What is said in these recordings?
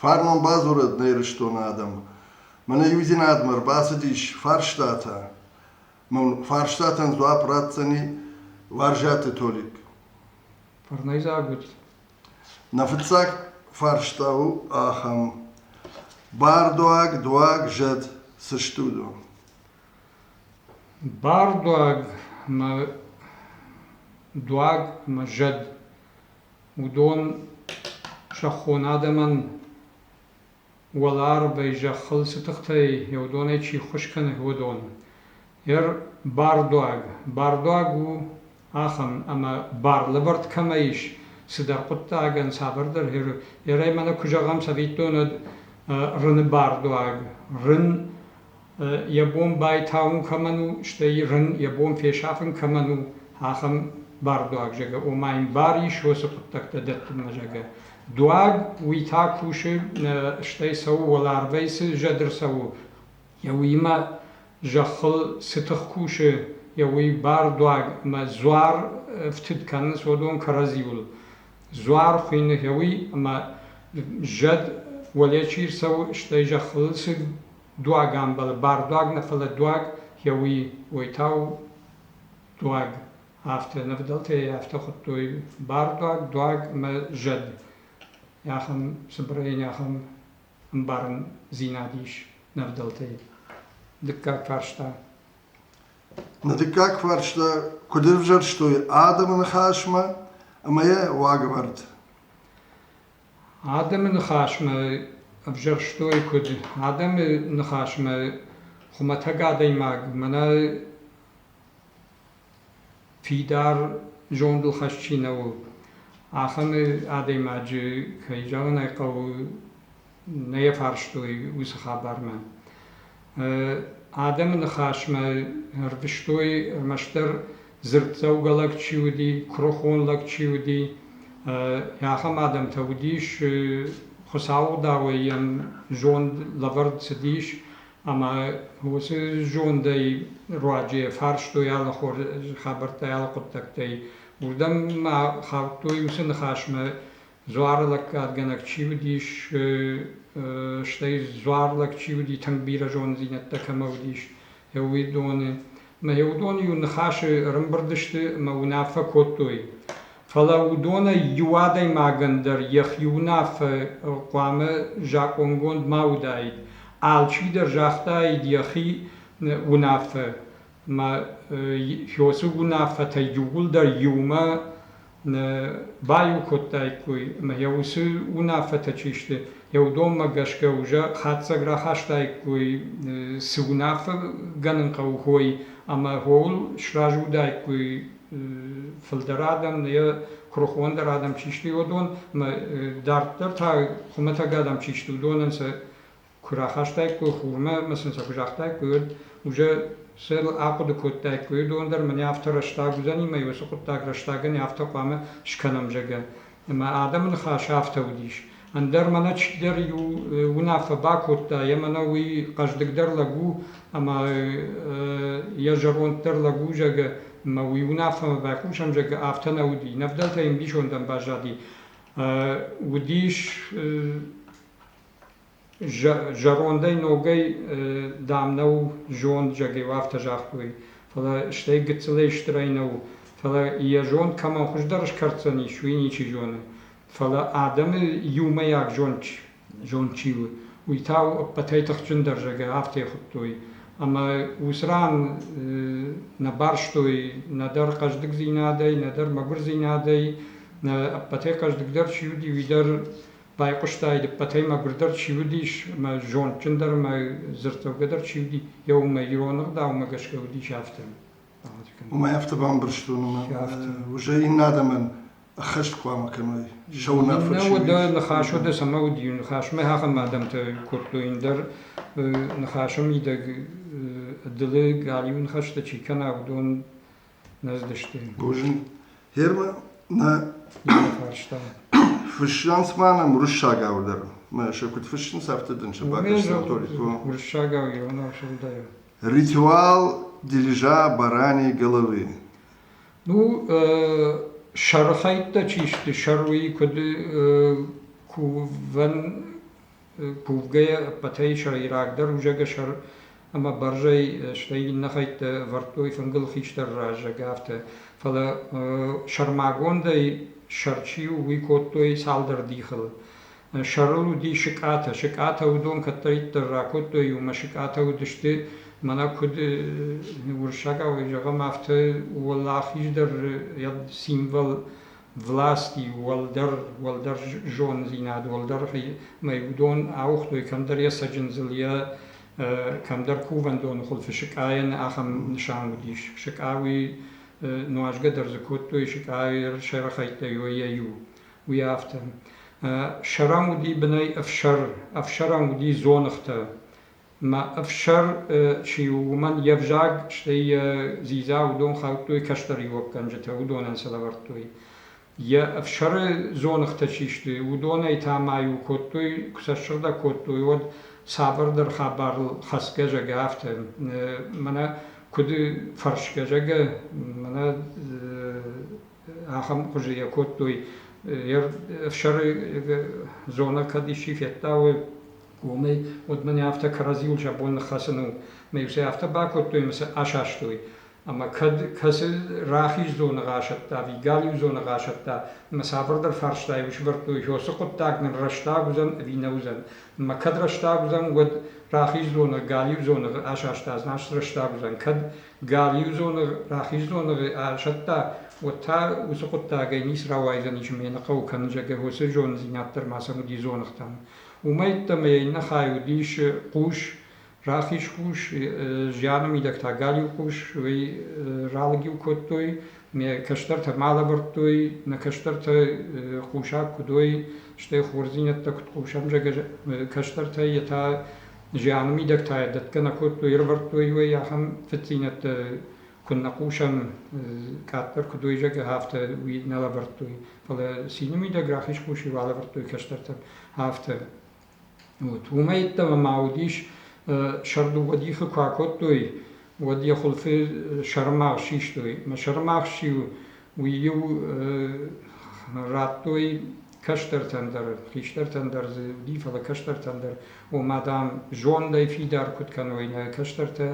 Фарнон бадзурӕд нӕ Ирыстоны адӕм. Мӕнӕ иудзинадмӕ ӕрбацыдис фарстатӕ. Мын фарстатӕн дзуапп ратдзӕни Уарзӕты Толик. Фӕрнӕйдзаг ут. Нӕ фыццаг фарста у ахӕм. Бардуаг, дуаг, зӕд цы стут у? Бардуаг мӕ дуаг мӕ зӕд уыдон сӕ хон адӕмӕн уӕларвӕй зӕххыл цы тыхтӕй уыдонӕй чи ххуыс кӕны, уыдон. Эр бардуаг. Бардуаг у ахӕм, ӕмӕ барлӕвӕрд кӕмӕ ис, цыдӕр хъуыддагӕн цавӕрдӕр хиры. Ерӕй мӕнӕ куы зӕгъӕм цӕвиттон, уӕд рыны бардуаг. Рын йӕ бон байтауын кӕмӕн у, стӕй рын йӕ бон фесафын кӕмӕн у, ахӕм бардуаг, зӕгӕ, ома йын бар ис уыцы хъуыддӕгтӕ дӕттынмӕ, зӕгӕ. Дуаг уый та кусы, стӕй цӕуы уӕларвӕй цы зӕд ӕрцӕуы, йӕ уыимӕ зӕххыл цы тых кусы, йӕ уый бардуаг ӕмӕ дзуар ӕфтыд кӕны Содом кӕрӕдзиуыл. Дзуар хуыйны йӕ уый, ӕмӕ зӕд уӕле чи рцӕуы, стӕй зӕххыл цы дуагӕмбӕлы бардуаг нӕ фӕлӕ дуаг йӕ уый уый та у дуаг афтӕ нывдӕлтӕй афтӕ хуыдтой бардуаг дуаг ӕмӕ зӕд ахӕм цыбырӕй не ахӕм ӕмбарындзинад ис нывдӕлтӕй дыккаг фарста на дыккаг фарста куыд ӕвзӕрстой адӕмы ныхасмӕ ӕмӕ йӕ уагӕвӕрд Адӕмы ныхасмӕ ӕвзӕрстой куыд адӕмы ныхасмӕ хуымӕтӕг адӕймаг, мӕнӕ фидар зондыл хӕс чи нӕ у, ахӕм адӕймаджы, кӕй зӕгъын ӕй хъӕуы, нӕ фарстой уыцы хабармӕ. Адӕмы ныхасмӕ ӕрвыстой ӕрмӕстдӕр дзырддзӕугӕ лӕг чи уыди, куырыхон лӕг чи уыди, ахӕм адӕмтӕ уыдис, Хуыцауыдауӕй йӕм зонд лӕвӕрд цыдис ӕмӕ уыцы зондӕй руаджы фарстой алы хабӕрттӕй, алы хъуыддӕгтӕй. Уырдӕм ма хаудтой уыцы ныхасмӕ Дзуары лӕггадгӕнӕг чи уыдис, стӕй дзуарлӕг чи уыди, тынг бирӕ зонддзинӕдтӕ кӕмӕ уыдис, уыдоны. Мӕ уыдон-иу ныхасы ӕрымбырд сты ӕмӕ уынаффӕ кодтой. Фӕлӕ уыдонӕй иу адӕймагӕн дӕр йӕхи уынаффӕ хъуамӕ закъонгонд ма уыдаид, алчидӕр загътаид йӕхи уынаффӕ. Ӕма Йосуг унаффӕтӕй иууылдӕр иумӕ нӕ баеу кодтаиккой, ӕма йӕ уыцы унаффӕтӕ чи сты, еудонмӕ гӕсгӕ уже хатдзӕг рахастаиккой, цы унаффӕ гӕнӕн хъӕуы уой, ӕма ууыл сразы уыдаиккой фылдӕр адӕм, нӕ куырыхондӕр адӕм чи сты, уыдон, ӕма дарддӕр та хуымӕтӕг адӕм чи сты, уыдонӕн сӕ куы рахастаиккой хурмӕ ӕмӕ сын сӕ куы загътаиккой, уӕд уже сӕ ахъуыды кодтаиккой, дон дӕр мӕнӕ афтӕ рӕстаг уыдзӕни мӕ уыцы хъуыддаг рӕстагӕн афтӕ хъуамӕ скӕнӕм, зӕгъгӕ. Ӕмӕ адӕмы ныхас афтӕ уыдис. Ӕндӕр мӕнӕ чидӕр иу уынаффӕ бакодта, ӕмӕ нӕ уый хъӕздыгдӕр лӕг у ӕмӕ йӕ зӕронддӕр лӕг у, зӕгъгӕ, мӕ уый уынаффӕмӕ байхъусӕм, зӕгъгӕ, афтӕ нӕ уыди. Не вдӕлтӕ йын ӕмбисонд ӕмбӕззади. Уыдис Зӕрондӕй ногӕй, дам, нӕу зонд, зӕгъгӕ, афтӕ загътой. Фӕлӕ стӕй гыццылӕй стырӕй нӕу. Фӕлӕ йӕ зонд кӕмӕн хуыздӕр скӕрддзӕнис, уый ничи зоны. Фӕлӕ адӕмы иумӕйаг зонд, зонд чи у, уый та у ӕппӕтӕй тыхджындӕр, зӕгъгӕ, афтӕ хуыдтой. Ӕмӕ уыцы ран нӕ барстой нӕдӕр хъӕздыгдзинадӕй, нӕдӕр мӕгуырдзинадӕй, нӕ ӕппӕтӕй хъӕздыгдӕр чи уыди, уый дӕр Байхъуыстай, дыппӕтӕй мӕгуырдӕр чи уыдис, мӕ зондджындӕр ӕмӕ дзырддзӕугӕдӕр чи уыди, йӕ уымӕ ирон ӕгъдаумӕ гӕсгӕ уыдис афтӕ. Уымӕй афтӕ бамбӕрстон, ома уже иннӕ адӕмӕн ӕххӕст хъуамӕ кӕной сӕ уынаффӕ чи уыд. Дӕ ныхас уыд, цӕмӕ уыди ныхас, мӕ ахӕм адӕмтӕ кодтой ӕндӕр ныхасы мидӕг ӕдылы галиу ныхӕстӕ чи кӕна, уыдон Нӕздысты. Бозын. Гермӕ нӕ фарста. Фыссынц ма нӕм уырыссагау дӕр. Мӕ сӕ куыд фыссынц, афтӕ дын сӕ бакӕсдзӕн ритуал. Уырыссагау ирон Ритуал дирижа барани головы. Ну, сархайдта чи сты, саруи куыд кувӕн кувгӕйӕ ӕппӕтӕй сӕйрагдӕр узӕгӕ сӕр ӕмӕ бӕрзӕй, стӕй иннӕ хӕйттӕ ӕвӕрдтой фынгыл хистӕр раззаг, афтӕ. Фӕлӕ сӕрмагондӕй сӕр чи у, уый кодтой цалдӕр дихыл. Сӕрыл уыди сыкъатӕ. Сыкъатӕ уыдон кӕддӕриддӕр ракодтой иумӕ. Сыкъатӕ уыдысты, мӕнӕ куыд уырыссагау зӕгъӕм, афтӕ уӕлахиз дӕр йӕ символ власти, уӕлдӕр, уӕлдӕр зондзинад, уӕлдӕр мӕй уыдон ауыгътой кӕмдӕр йӕ цӕджындзыл, йӕ кӕмдӕр кувӕндоны хуылфы сыкъайӕн ахӕм нысан уыдис. Сыкъа уый нуазгӕ дӕр дзы кодтой, сыкъайы сӕрыхӕйттӕ йой йӕ иу, уый афтӕ. Сӕрам уыди бынӕй ӕфсӕр, ӕфсӕрам уыди дзоныгътӕ, Мӕ ӕфсӕр чи у, уымӕн йе взаг, стӕй йӕ дзидза уыдон хаудтой кӕстӕриуӕггӕнджытӕ, уыдонӕн сӕ лӕвӕрдтой. Йӕ ӕфсӕры дзоныгътӕ чи сты, уыдонӕй та ма-иу кодтой, куы сӕ ссыгъдӕг кодтой, уӕд цавӕрдӕр хабарыл хӕцгӕ, зӕгъгӕ, афтӕ. Мӕнӕ куыд фӕрсгӕ, зӕгъгӕ, мӕнӕ ахӕм хуызы йӕ кодтой. Ӕфсӕры зонӕ кӕд исчи федтауы, уымӕй, уӕд мын афтӕ кӕрӕдзиуыл сӕ бон ныххӕцын у. Мӕ сӕ афтӕ бакодтой, ӕмӕ сӕ асастой. Ӕмӕ кӕд кӕцы рахиз зоны расӕтта, ӕви галиу зоны расӕтта, ӕмӕ цавӕрдӕр фарстайы усвӕрдтой, ё цы хъуыддаг нын рӕстаг уыдзӕн, ӕви нӕ уыдзӕн. Ӕмӕ кӕд рӕстаг уыдзӕн, уӕд рахиз зоны, галиу зоны асаста, значит, рӕстаг уыдзӕн. Кӕд Гал-иу дзоныгъ, рахиз дзоныгъы ӕрсӕтта, уӕд та уыцы хъуыддагӕй ницы рауайдзӕни, чы ма йӕ нӕ хъӕуы кӕнын, зӕгӕ уыцы зонддзинад дӕр ма сӕм уыди дзоныгътӕн. Уымӕ йеддӕмӕ йӕ иннӕ хай уыдис хъус, рахиз хъус, зианы мидӕг та галиу хъус, уый ралыг-иу кодтой, ме кӕстӕртӕ ма лӕвӕрдтой, нӕ кӕстӕртӕ хъусаг куыд уой, стӕй хорздзинӕдтӕ куыд хъусӕм, зӕгӕ кӕстӕртӕй йе та зианы мидӕгтӕ дӕтгӕ нӕ кодтой, ӕрӕвӕрдтой уый ахӕм фыддзинӕдтӕ, куыннӕ хъусӕм, къаддӕр куыд уый зӕгъы, афтӕ уый нӕ лӕвӕрдтой. Фӕлӕ цины мидӕг рахиз куси алӕвӕрдтой кӕстӕртӕн афтӕ. Вот. Уымӕй йеддӕмӕ ма уыдис сӕрдугъӕд ихы куы акодтой, уӕд йӕ хуылфы сӕрымагъз систой. Мӕ сӕрымагъз чи у, уый-иу радтой кӕстӕртӕн дӕр, хистӕртӕн дӕр дзы уыди, фӕлӕ кӕстӕртӕн дӕр, ома, дам, зондӕй фидар куыд кӕной нӕ кӕстӕртӕ,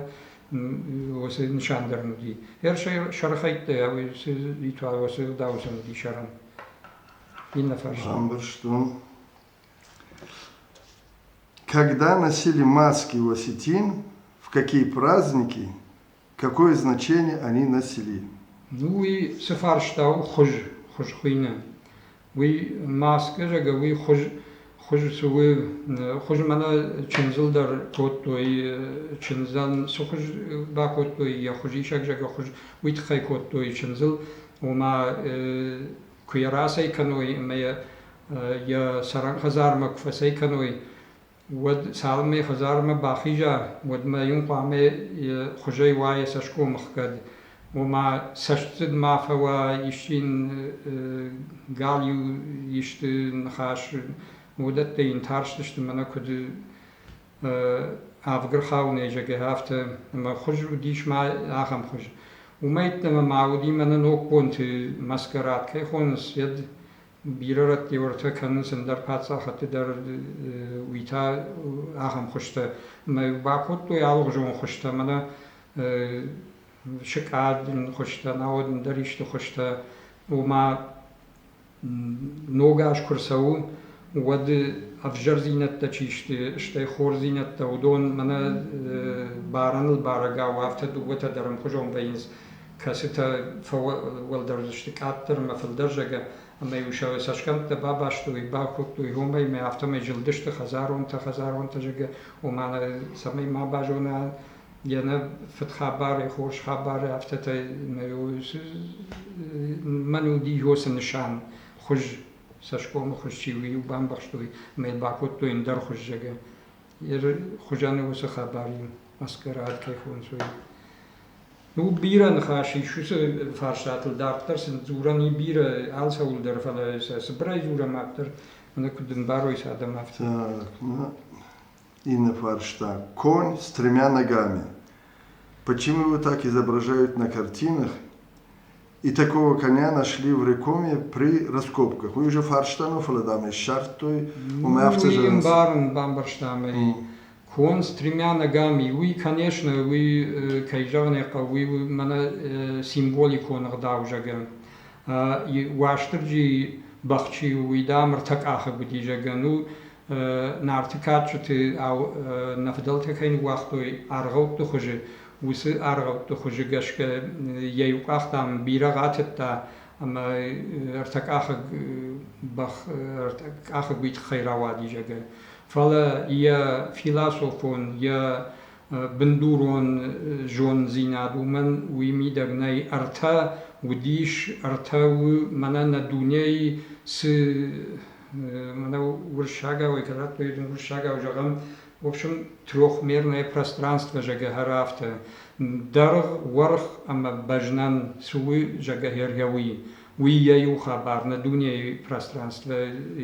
уыцы нысан дӕр уыди. Ӕр сӕрхӕйттӕ уыцы ритуал уыцы дауцӕн уыди сӕрӕн. Иннӕ фарст. Ӕмбӕрстон. Когда носили маски у осетин, в какие праздники Какое значение они носили? Уый цы фарста у хуыз, хуыз хуыйны? Уый маскӕ, зӕгъгӕ, уый хуыз, хуыз цы у, хуыз мӕнӕ чындзыл дӕр кодтой, чындзӕн цы хуыз бакодтой, йӕ хуызисӕг, зӕгъгӕ, хуыз уый тыххӕй кодтой чындзыл, ома куы йӕ рацӕй кӕной ӕмӕ йӕ йӕ цӕрӕн хӕдзармӕ куы фӕцӕй кӕной, уӕд цалынмӕ йӕ хӕдзармӕ бахиза, уӕдмӕ йын хъуамӕ йӕ хуызӕй уа йӕ цӕсгом ӕхгӕд. Ома, цӕстдзыд ма фӕуа, исчи йын галиу исты ныхас, уыдӕттӕ йын тарстысты мӕнӕ куыд ӕвгырхауынӕй зӕгӕ, афтӕ. Ӕмӕ хуыз уыдис ма ахӕм хуыз. Уымӕй йеддӕмӕ ма уыди мӕнӕ ног бонты маскарад кӕй хонынц, йӕд бирӕ рӕтти уӕртӕ кӕнынц ӕндӕр паддзахадты дӕр уый та ахӕм хуызтӕ ӕмӕ бакодтой алыгъуызон хуызтӕ мӕнӕ сыкъадин хуызтӕ науӕд ӕндӕр исты хуызтӕ ома ног аз куы рцӕуы уӕд ӕвзӕрдзинӕдтӕ чи сты стӕй хорздзинӕдтӕ уыдон мӕнӕ барӕныл бӕрӕгау афтӕ дыууӕтӕ дӕр ӕмхуызон вӕййынц кӕцытӕ фӕуӕлдӕр уыдысты къаддӕр ӕмӕ фылдӕр зӕгӕ, ӕмӕ-иу сӕ цӕсгӕмттӕ бабастой, бакодтой уымӕй, ӕмӕ афтӕмӕй зылдысты хӕдзаронтӕ, хӕдзаронтӕ зӕгӕ, уымӕн цӕмӕй ма базона йӕ нӕ фыдхабары, хорз хабары, афтӕтӕй мӕн уыди йосы нысан, хуыз, цӕсгомы хуыз чи у, бамбӕхстой, ӕмӕ йыл бакодтой ӕндӕр хуыз, зӕгӕ. Йӕ хуызӕн уыцы хабар и, маскарад кӕй хонцой. Уыд бирӕ ныхас ис уыцы фарстатыл, дарддӕр сын дзурӕн и бирӕ алцӕуыл дӕр, фӕлӕ сӕ цыбырӕй дзурӕм автор, мӕнӕ куыд ӕмбарой сӕ адӕм афтӕ. Так, ну, иннӕ фарста. Конь с тремя ногами. Почему его так изображают на картинах? И такого коня нашли в Рекоме при раскопках. Мы уже фарстаны, фӕлӕ дам ӕй ссардтой, уымӕ афтӕ зӕгъынц. Барын бамбӕрстам ӕй. Кон с тремя ногами. Уый, конечно, уый, кӕй зӕгъын ӕй хъӕуы, уый мӕнӕ символикон ӕгъдау зӕгӕн. Уастырджи бӕхчи у, уый дам ӕртӕ къахыг уыди зӕгӕн у, нарты кадджыты нӕ фыдӕлтӕ кӕй ныууагътой аргъӕутты хуызы, уыцы аргъӕутты хуызы гӕсгӕ йӕ иу къах, дам, бирӕ ратыдта ӕмӕ ӕртӕкъахыг бӕх ӕртӕкъахыг тыххӕй рауади, зӕгъгӕ. Фӕлӕ йӕ философон, йӕ бындурон зонддзинад уымӕн уый мидӕг нӕй. Ӕртӕ уыдис, ӕртӕ у мӕнӕ нӕ дунейы цы мӕнӕ уырыссагау это радтой уырыссагау зӕгъӕм в общем трехмерное пространство зӕгӕ хӕры афтӕ дӕргъ уӕрх ӕмӕ бӕзнӕн цы у зӕгӕ хӕргӕ уый уый йӕ иу хабар нӕ дунейы пространство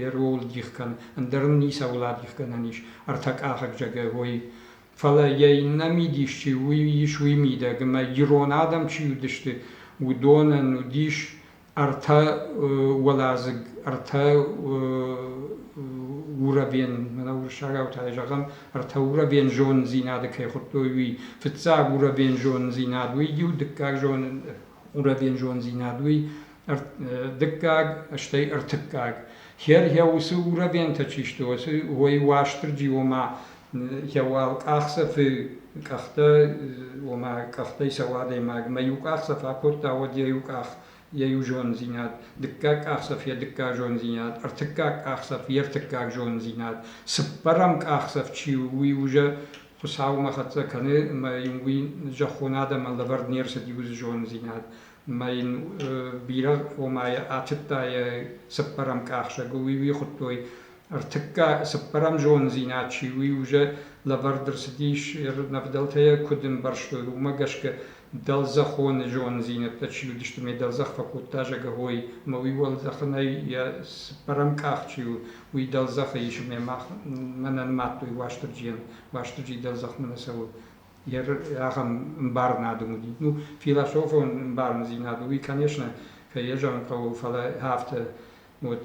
йӕ рол дих кӕн ӕндӕр ын ницӕуыл адих гӕнӕн ис ӕртӕкъахыг зӕгӕ уой фӕлӕ йӕ иннӕ мидис чи уый ис уый мидӕг ӕмӕ ирон адӕм чи уыдысты уыдонӕн уыдис ӕртӕ уӕладзыг, ӕртӕ уровен, мӕнӕ уырыссагау тайы зӕгъӕм, ӕртӕ уровен зонддзинады кӕй хуыдтой, уый. Фыццаг уровен зонддзинад, уый иу, дыккаг зон уровен зонддзинад, уый дыккаг, стӕй ӕртыккаг. Хер, уыцы уровентӕ чи сты, уый Уастырджи, ома Йӕ уӕл къахдзӕфы къӕхтӕ, ома къӕхтӕй цӕуы адӕймаг, ӕмӕ иу къахдзӕф акодта, уӕд йӕ иу къах, йӕ иу зондзинад, дыккаг къахдзӕф йӕ дыккаг зондзинад, ӕртыккаг къахдзӕф йе ртыккаг зондзинад. Цыппӕрӕм къахдзӕф чи у, уый уже Хуыцаумӕ хӕццӕ кӕны, ӕмӕ йын уый зӕххон адӕмӕн лӕвӕрд не рцыд иу зондзинад. Ӕмӕ йын бирӕ, ома йӕ атыдта йӕ цыппӕрӕм къахдзӕг, уый уый хуыдтой Ӕртыкка цыппӕрӕм зондзинад чи у, уже лӕвӕрд ӕрцыдис йе рнӕвдӕлтӕ йӕ куыд ӕмбӕрстой, уымӕ гӕсгӕ дӕлдзӕхоны зондзинӕдтӕ чи уыдысты, ме дӕлдзӕх фӕкодта зӕгӕгой, ӕмӕ уый уӕлдзӕхынӕй йӕ цыппӕрӕм къах чи у, уый дӕлдзӕхы ис ӕмӕ мах мӕнӕн мадтой Уастырджийӕн, Уастырджи дӕлдзӕхмӕ нӕ цӕуы. Йе ахӕм ӕмбарынадон уыди. Ну, философон ӕмбарындзинад уый, конечно, кӕй йӕ зӕгъын хъӕуы, фӕлӕ афтӕ, вот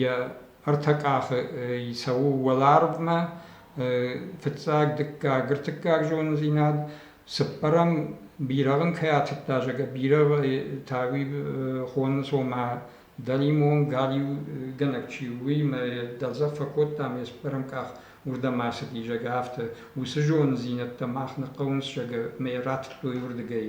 йӕ ӕртӕ къахы цӕуы уӕларвмӕ, фыццаг, дыккаг, ӕртыккаг зондзинад. Цыппӕрӕм, бирӕгъ ын кӕй атыдта, зӕгъгӕ, бирӕгъ та уый хоны, цома дӕлимон, галиугӕнӕг чи у, уыимӕ йӕ дӕлдзӕф фӕкодта ӕмӕ йе цыппӕрӕм къах уырдӕм ацыди, зӕгъгӕ, афтӕ. Уыцы зондзинӕдтӕ мах нӕ хъӕуынц, зӕгъгӕ, мӕ йӕ ратыдтой уырдыгӕй.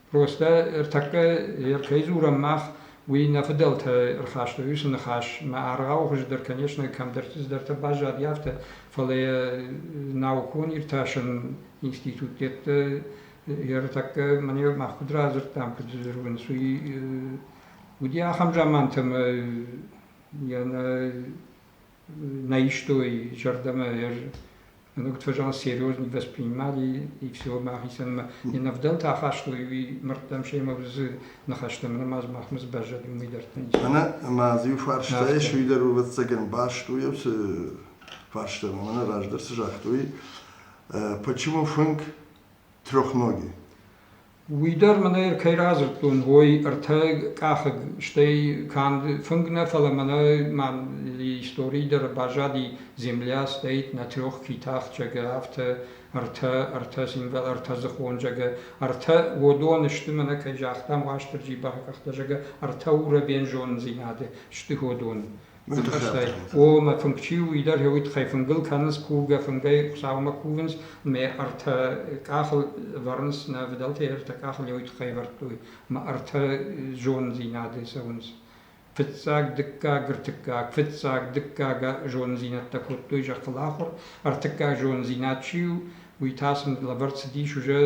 Ростӕ ӕртӕккӕ ӕркӕй дзурӕм мах, уый нӕ фыдӕлтӕ ӕрхастой уыцы ныхас, мӕ аргъау хуыздӕр, конечно, кӕмдӕртӕ баззади, афтӕ, фӕлӕ йӕ наукон иртасӕн институтты ӕртӕккӕ мӕнӕ мах куыд радзырдтам, куыд зӕгъынц, уый уыди ахӕм заманты ӕмӕ йӕ нӕ на истой зӕрдӕмӕ Ногтвежал серьезно воспринимали и всего махицӕн ӕмӕ не нӕвдӕлтӕ ахастой уый мырдтӕм семӕ дзы ныхӕстӕм нымӕц махмӕ сбӕззӕд уый дӕр тынджы. Ӕмӕ ӕмӕ иу фарста ис, уый дӕр у ӕвӕццӕгӕн баст у уыцы фарстам, ӕмӕ нӕ раздӕр цы загътой, почему фынг трехноги? Уый дӕр мын ӕй ӕркӕй радзырдтон, ой, ӕртӕ къахыг, стӕй канд фынг нӕ, фӕлӕ мӕнӕ ма историйы дӕр баззади, земля стоит на трех китах, зӕгъгӕ, афтӕ ӕртӕ, ӕртӕ символ, ӕртӕдзыхон, зӕгъгӕ, ӕртӕ, уыдон сты, мӕнӕ кӕй загътам, Уастырджи бакъахта, зӕгъгӕ, ӕртӕ урӕбен зонындзинады сты уыдон. О, мӕ фынг чи у, уый дӕр йӕ уый тыххӕй фынгыл кӕнынц, кургӕ фынгӕй Хуыцаумӕ кувынц, ӕмӕ ӕртӕ къахыл ӕвӕрынц, нӕ фыдӕлтӕй ӕртӕ къахыл йӕ уый тыххӕй ӕвӕрдтой, ӕмӕ ӕртӕ зонддзинады цӕуынц. Фыццаг, дыккаг, ӕртыккаг, фыццаг, дыккаг зонддзинӕдтӕ кодтой зӕххыл ахуыр, ӕртыккаг зонддзинад чи у, уый та сын лӕвӕрд цыдис уже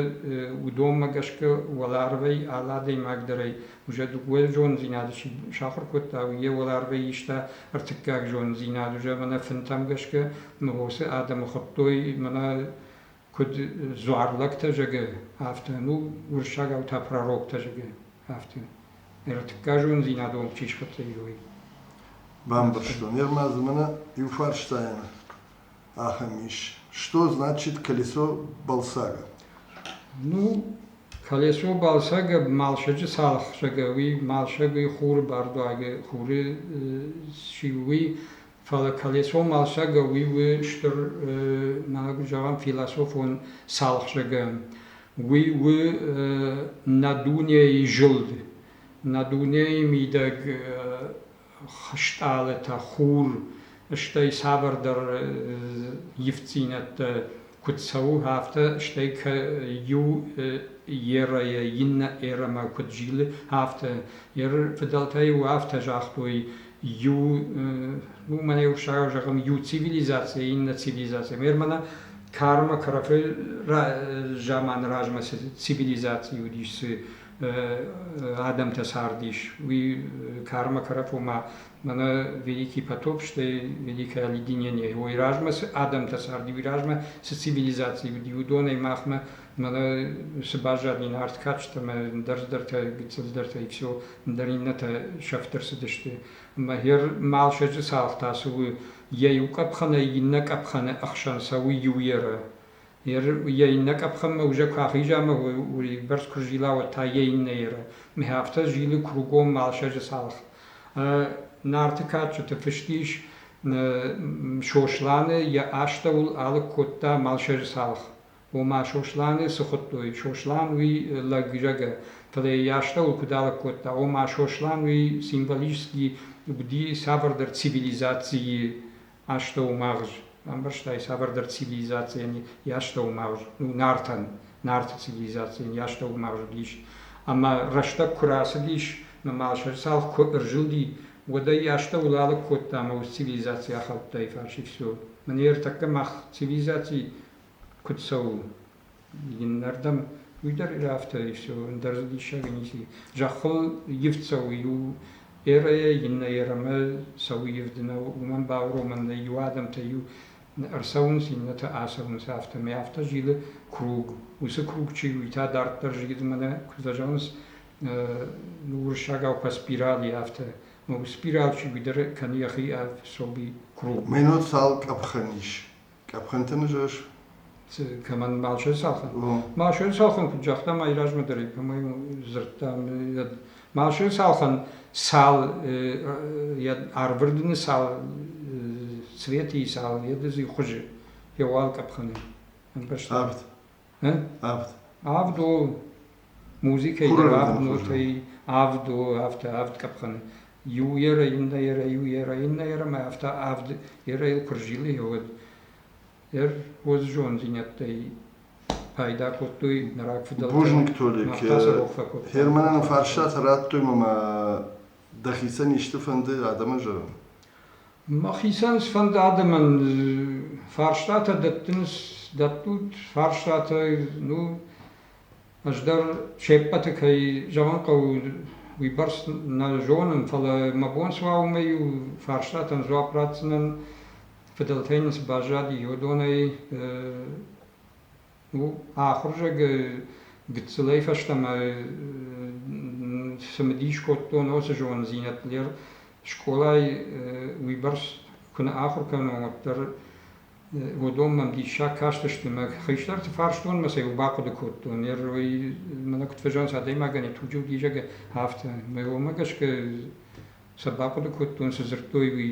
уыдонмӕ гӕсгӕ уӕларвӕй алы адӕймагдӕрӕй уже дыууӕ зонддзинады чи сахуыр кодта, уый йӕ уӕларвӕй иста ӕртыккаг зонддзинад уже мӕнӕ фынтӕм гӕсгӕ, уыцы адӕмы хуыдтой мӕнӕ куыд дзуарлӕгтӕ зӕгӕ, афтӕ, ну, уырыссагау та пророктӕ зӕгӕ, афтӕ. Ӕртыккаг зонддзинад онг чи схӕццӕ ис, уый. Бамбӕрстон. Йе рмӕдзы мӕнӕ иу фарстайӕн ахӕм ис. Что значит колесо Балсага? Ну, колесо Балсага малсӕджы цалхсӕгӕ уый малсӕгы хуры бардуагы хуры чи уый, фӕлӕ колесо малсӕгӕ уый у стыр мӕнӕг зӕгъӕм философон цалхсӕгӕ. Уый у над дунейы зылд, над дунейы мидӕг стъалытӕ, хур, стӕй цавӕрдӕр ивддзинӕдтӕ куыд цӕуы, афтӕ, стӕй иу эрӕйӕ иннӕ эрӕмӕ куыд зилы, афтӕ. Еры фыдӕлтӕ иу афтӕ загътой, иу, уымӕн йӕ урссагау зӕгъӕм, иу цивилизацийӕ иннӕ цивилизацийӕ. Мӕрмӕ кӕрмӕ кӕрӕфы заманы размӕ цы цивилизаци уыдис, цы адӕмтӕ цардис, уи кармӕ карӕп, ома мӕнӕ великий потоп, стӕй великое олединение. Уой размӕ цы адӕмтӕ царди, уи размӕ цы цивилизаци уыди, уыдонӕй махмӕ мӕнӕ цы баззади нард кадджытӕмӕ, ӕндӕрдӕртӕ, гыццылдӕртӕ, иксо, ӕндӕр иннӕтӕ сӕфт ӕрцыдысты. Ӕмӕ гьер малсӕджы цалх та цы у, йӕ иу къӕпхӕнӕй иннӕ къӕпхӕны ӕхсӕн цӕуы иу ерӕ. йӕ иннӕ къӕпхӕнмӕ узӕг куы ахиза ӕмӕ уыйбӕрц куы зила, уӕд та йӕ иннӕ еры. Мӕ афтӕ зилы кругом Алсӕджы цалх. Нарты кадджыты фыст ис, Сосланы йӕ астӕуыл алыг кодта Малсӕджы цалх. Ома Сосланы цы хуыдтой, Сослан уый лӕггзӕгӕ, фӕлӕ йӕ астӕуыл куыд алыг кодта, ома Сослан уый символически уыди цавӕрдӕр цивилизацийы астӕумагъз, ӕмбӕрстай, цавӕрдӕр цивилизацийӕн йӕ астӕумагъз, ну, Нартӕн, Нарты цивилизацийӕн йӕ астӕумагъз уыдис. Ӕмӕ рӕстӕг куы рацыдис, нымал сӕ цалх куы ӕрзылди, уӕд ӕй астӕуыл алыг кодта ӕмӕ ус цивилизаци ахаудтаи фарсӕй. Все, мын ӕртӕккӕ мах цивилизаци куыд цӕуы? Иннӕрдӕм уый дӕр афтӕ ис, ӕндӕр диссаг ницы. Зӕххыл ивд цӕуы иу эрӕйӕ, иннӕ эрӕмӕ цӕуы ивд, нӕ уымӕн бауромӕн нӕй. Иу адӕмтӕ иу ӕрцӕуынц, иннӕтӕ ацӕуынц, афтӕмӕй. Афтӕ зилы круг. Уыцы круг чи у, уый та дарддӕр зилы, мӕнӕ куыд дӕ зӕгъынц, уырыссагау по спирали, афтӕ. Спирал чи уый дӕр кӕны йӕхи ӕфсоби круг. Мӕнӕ цал къӕпхӕн ис Къӕпхӕнты ныжас. Кӕмӕн Малшойы цалхын. Малшойы цалхын куыд загъта ма размӕ дӕр кӕмӕй дзырдта Малшойы цалхын цал йӕ арвырдыны цал цветы цал йӕ хуызы йӕ уал къӕпхӕны ӕмбӕрста. Авд. Авд. Авд у музыкӕйы авд нотӕй авд у афтӕ авд къӕпхӕны. Иу ерӕ, иннӕ ерӕ, иу ерӕ, иннӕ ерӕмӕ афтӕ авд ерӕйыл куы рзилы уӕд. Дӕр хорз зондзинӕдтӕй пайда кодтой нӕ рагфыдӕлтӕ. Бузныг, Тодо, Перманӕн фарстатӕ радтой мӕ Дӕхицӕн исты фӕнды адӕмӕн зӕгъын? Мӕхицӕн сфӕнды адӕмӕн фарстатӕ дӕттын, дӕттут фарстатӕ, ну, ӕз дӕр се ппӕты кӕй зӕгъын хъӕуы, уыйбӕрц нӕ зонын, фӕлӕ мӕ бон цы уа, уымӕй у фарстатӕн дзуапп ратдзынӕн, фыдӕлтӕй нын цы баззади, уыдонӕй Ахуырзагы гыццылӕй фӕстӕмӕ цымыдис кодтон уыцы зондзинӕдтыл. Скъолайы уыйбӕрц куы нӕ ахуыр кӕнон, уӕддӕр уыдон мӕм диссаг кастысты. Мӕ хистӕрты фарстон мӕ сӕ иу бахъуыды кодтон. Ныр уый мӕнӕ куыд фӕзӕгъынц, адӕймагӕн йӕ туджы уыд изӕры афтӕ. Мӕ уымӕ гӕсгӕ сӕ бахъуыды кодтон, цы дзырдтой, уый.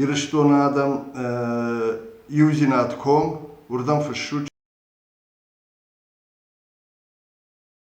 Ирыстоны адӕм иудзинад ком уырдӕм фыссут